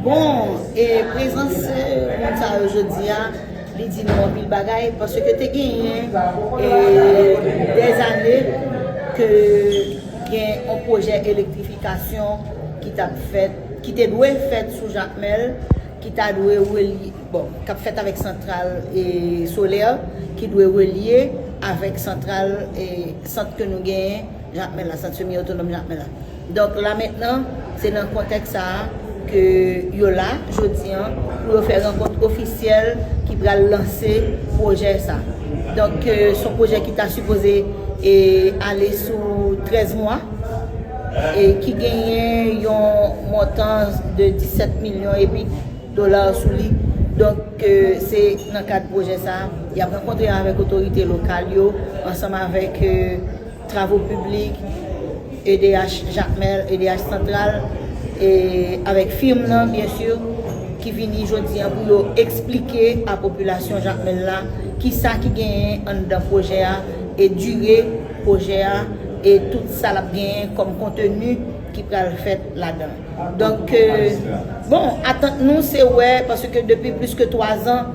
Bon, e prezans moun sa yo jodi a, li di nou anpil bagay, paske te genyen de zane ke gen yon pwojè elektrifikasyon ki tap fèt, ki te dwe fèt sou Jakmèl, ki ta dwe relye, bon, kap fèt avèk santral e solè, ki dwe relye avèk santral e sant ke nou genyen Jakmèl la, sant semi otonòm Jakmèl la. Donk la mentnan, se nan kontèks sa a ke yo la jodi an pou yo fè rankont ofisyèl ki pral lanse pwojè sa. Donk ke s on pwojè ki ta sipoze ale sou 13 mwa e ki genyen yon montan de 17 milyon e pik dola sou li. Donk ke se nan kad pwojè sa a y ap rankontre avèk otorite lokal yo ansanm avèk Travo piblik, edh Jakmèl, edh Santral, e avèk firm nan byen si ki vini jodi an pou yo esplike a popilasyon Jakmèl la kisa ki genyen anndan pwojè a e dire pwojè a e tout sa lap genyen kòm konteni ki pral fèt ladan. Donk bon atant nou se wè paske depi plis ke 3 zan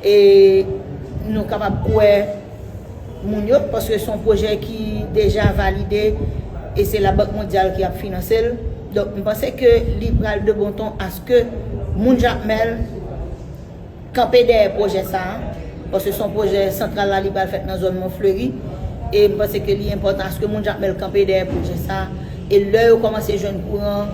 E nou kapab kwè moun yo, paske son pwojè ki deja valide e se la Bank Mondyal ki ap finanse l. Donk m panse ke li pral de bon ton aske moun Jakmèl kanpe dèyè pwojè sa a, paske son pwojè santral la li pral fèt nan zòn Monfleury e m panse ke li enpòtan aske moun Jakmèl kanpe dèyè pwojè sa a e lè yo kòmanse jwenn kouran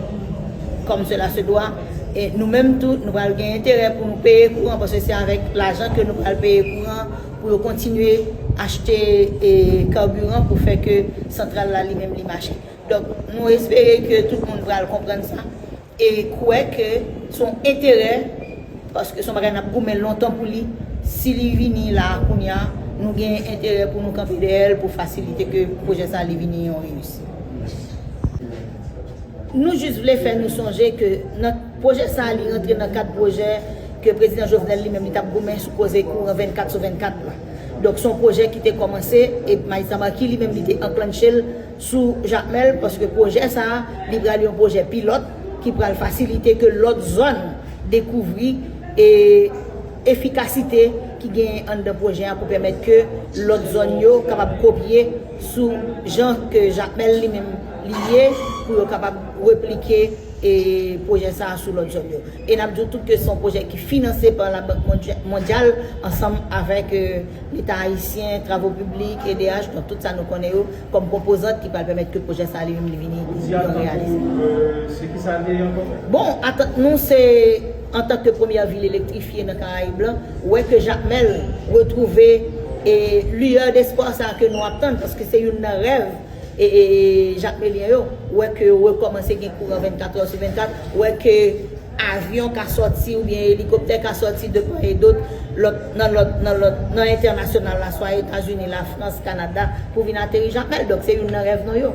kòm sela se dwa, E nou menm tou, nou pral gen enterè pou nou peye kouran paske se avèk lajan ke nou pral peye kouran pou yo kontinye achte carburant pou fè ke santral la li menm li mache. Donk, nou espere ke tout moun pral konprann sa e kwè ke se yon enterè paske se yon bagay n ap goumen lontan pou li. Si li vini la a kounye a, nou gen enterè pou nou kanpe dèyè l pou fasilite ke pwojè sa li vini yon reyisit. Nou jis vle fè nou sonje ke nan pwojè sa a li rantre nan kad pwojè ke Prezidan Jovenel li menm li tap goumen sou koze kouran 24 sou 24 la. Donk son pwojè ki te kòmanse e Maes Lamartine li menm li te anklannche l sou Jakmèl paske pwojè sa a li pral yon pwojè pilòt ki pral fasilite ke lòt zòn dekouvri e efikasite ki genyen anndan pwojè a pou pèmèt ke lòt zòn yo kapab kopye sou jan ke Jakmèl li menm li ye pou yo kapab replike pwojè sa a sou lòt zòn yo. E n ap di w tou ke se yon pwojè ki finanse pa Labank Mondyal ansanm avèk Leta Ayisyen, Travo Piblik, edh, donk tout sa nou konnen yo kòm konpozant ki pral pèmèt ke pwojè sa a li menm li vini yon reyalite. Ki atant ou, se ki sa l ye ankò? Bon, atant nou se antan ke premyè vil elektrifye nan Karayib lan, wè ke Jakmèl retwouve liyè despwa sa a ke nou ap tann paske se youn nan rèv Jakmelyen yo, wè ke yo rekòmanse gen kouran 24 è sou 24, wè ke avyon ka sòti oubyen elikoptè ka sòti de pa e dot nan entènasyonal la, swa Etazini, Lafrans, Kanada, pou vin ateri Jakmèl. Donk se youn nan rèv nou yo.